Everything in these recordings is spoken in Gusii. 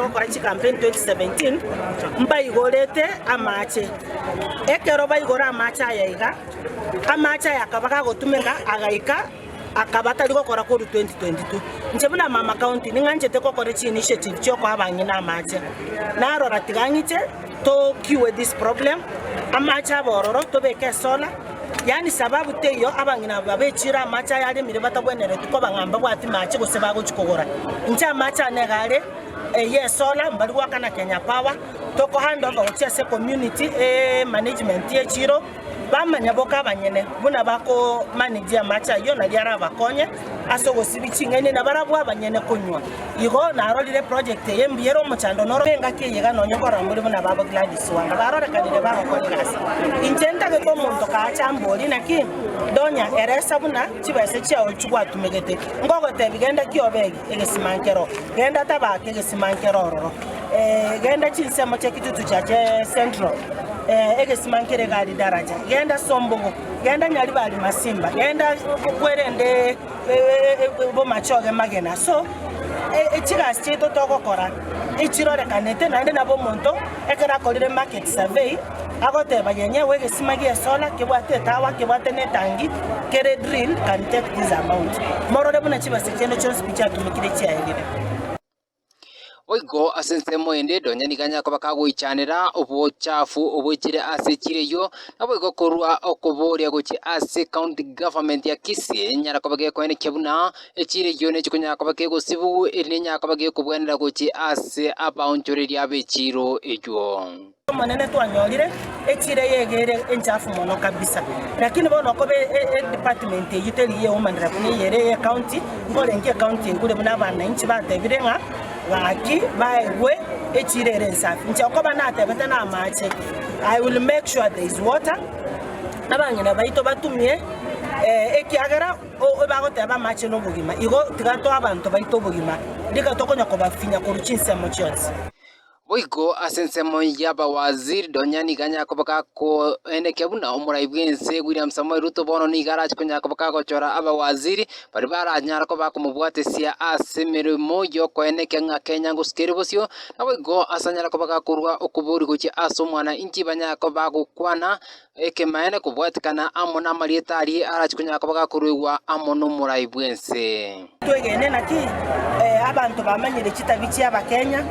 Gokora chikampeni 2017 mbaigorete amache. Ekero baigora amache aya iga, amache aya akaba gagotumeka agaika akaba tari gokora korwa 2022. Inche buna mama county ning'anchete gokora chi initiative chiokoa abang'ina amache. Narora tiga ng'iche to cure this problem, amache abororo tobeke solar. Yaani sababu teiyo abang'ina aba babechiire amaache ayaremire batagwenereti koba ng'a mbabwati maache gose bagochi kogora. Inche amaache ane iga are, eye esola, mbari gwaka na Kenya Power, toko hand over gochia ase community e management ye chiro, bamanya boka abanyene buna bako manage amaache ayio nari arabakonye. Ase ogosibia ching'aini na barabwo abanyene konywa. Igo narorire eprojekti eye mbuya ere omochando noro engaki eye iga nonya oborambori buna ababo Gladys Wanga barorekanire bagokora egasi. Inche ntagete omonto kaache ambori naki ndonya eresa buna chibesa chiao chigwatumegete ngogotebi genda ki obe egesima nkero genda tabaka egesima nkero ororo eeh genda chinsemo chia kitutu chia Central eeh egesima nkere egari daraja genda sombogo Genda nyaribo aria masimba, genda bwerende bomache obe magena, so chigasi chiaito togokora echirorekanete naende nabo omonto ekero akorire market survey agoteba yenyewe egesima gie solar kebwate etawa kebwate ne etangi kere drilled can take this amount morore buna chibesa chiaino chionsi pi chiatumekire chiaerire. Boigo ase ensemo ende Donyani ganyakoba kagoichanera obochafu oboichire ase chireyio, naboigo korwa okoboria gochia ase County Government ya Kisii enyare koba gekoenekia buna echireyio ne chikonyara koba kegosibu eri nenyara koba gekobwenerera gochia ase abaonchoreria be chiiro eyio. Omonene twanyorire echira eyege ere enchafu mono kabisa lakini bono okoba edepartment eyio teri yeumanera buna eyere eye county nkorengia ecounty egure buna abanainchi batebire ng'a gaki baegwe echira ere ensafi inche okoba natebete namache I will make sure there is water abang'ina baito batumie ekiagera bagoteba amache nobogima igo tiga toa abanto baito obogima rika tokonya kobafinya korwa chinsemo chionsi. Boigo ase ensemo y'abawaziri Donya nigo anyare koba gakoenekia buna omorai bw'ense William Samoei Ruto bono nigo arache konyara koba gagochora abawaziri baria baranyare koba bakomobwatesia ase emeremo y'okoenekia ng'a Kenya ngosuka ere bosio. Naboigo ase anyare koba gakorua okobori gochia ase omwana inki banyare koba bagokwana Ekemanyererio nekobwatikana amo namarieta aria arache konyara koba gakoruegwa amo nomorai bw'ense. Twegene naki abanto bamanyire chitabi chiabakenya,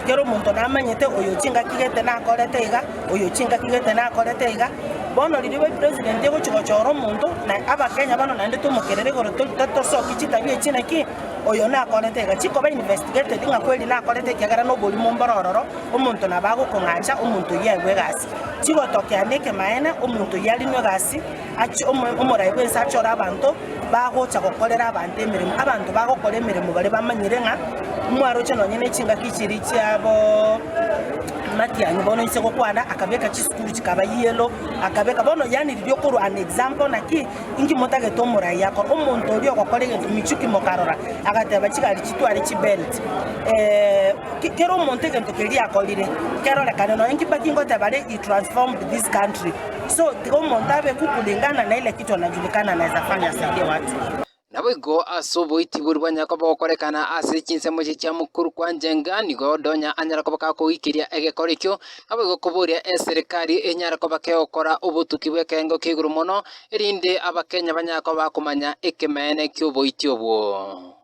kera omonto namanyete oyo chingaki gete nakorete iga, oyo chingaki gete nakorete iga. Bono riria bobe president egochi gochora omonto, na abakenya bono naende tomokerere igoro tori totosoki chitabi echi naki oyo nakorete iga. Chikoba investigated ng'a kweri nakorete ekiagera noborimo mbore ororo, omonto nabo agokong'acha omonto oyio aigwe egasi. Chigotokea nekemanyeene, omonto oyio arinwe egasi, achi omo- omorai bw'ense achore abanto bagocha gokorera abanto emeremo. Abanto bagokora emeremo baria bamanyire ng'a mwaroche nonye ne chingaki chiria chiabo matianyi bono inse gokwana akabeka chisukuru chikaba yellow, akabeka bono yaani riria okorwa an example naki inki motagete omorai akore. Omonto oria ogokora egento michuki mokarora, agateba chigari chitware chibelt Kera omonto egento keria akorire kerorekane nonya inki but ingoteba are he transformed this country so tiga omonto abeku kulingana na ile kitu anajulikana anaeza fanya asaidie watu. Naboigo ase oboiti boria bwanyare koba gokorekana ase chinsemo echi chia mokuru kwa Njenga nigo Donya anyare koba gakoikiria egekora ekio, naboigo koboria eserikari enyare koba kegokora obotuki bw'ekerengo kia igoro mono erinde Abakenya banyare koba bakomanya ekemeene ki'oboiti obwo.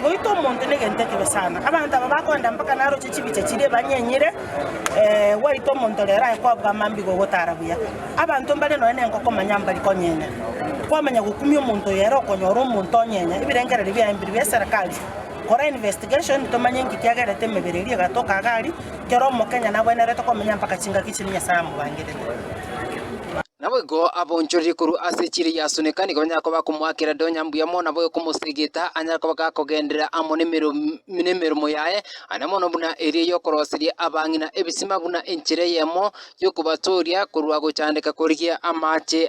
Goita omonto negento ekibe sana, abanto aba bakoenda mpaka naroche chibicha chiria ebanyenyire, gwaita omonto rero aye kwabua amambia igo ogotara buya. Abanto mbare nonye nenkoko manya mbari konyenya, kwamanya gokumia omonto oyo ere okonyora omonto onyenya, ebirengererio biaye mbiri bia eserikari, kora investigation tomanye nki kiagerete emebere eria egatoka iga aria, kera omokenya nagwenerete komenya mpaka chingaki chiria Nyasaye amobangerete. Naboigo abaonchorerie korwa ase echiira ya Asuneka nigo banyare koba bakomoakera edo onye mbuya mono nabo okomosegeta, anyare koba gakogenderera amo nemeromo yaye, aria mono buna eria y'okoroseria abang'ina ebisima buna enchera eyemo y'okobatooria korwa gochandeka korigia amache.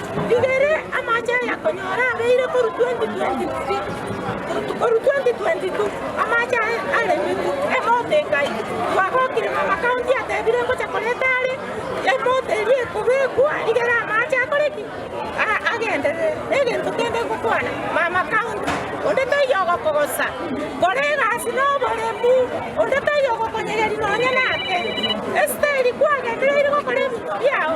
Rigere amache ayakonyora abeire koru 2023 koru 2022 amache aye aremete emoto engai twagokire na amakaunti atebire ngocha koreta are emoto eria ekobekwa rigere amache akore ki A- agenderere negento kende ngokwana mama kaunti onde taiyo ogokogosa kora egasi noboremu onde taiyo ogokonyegeri nonya nake esiteri kwagendereire gokora ebinto biao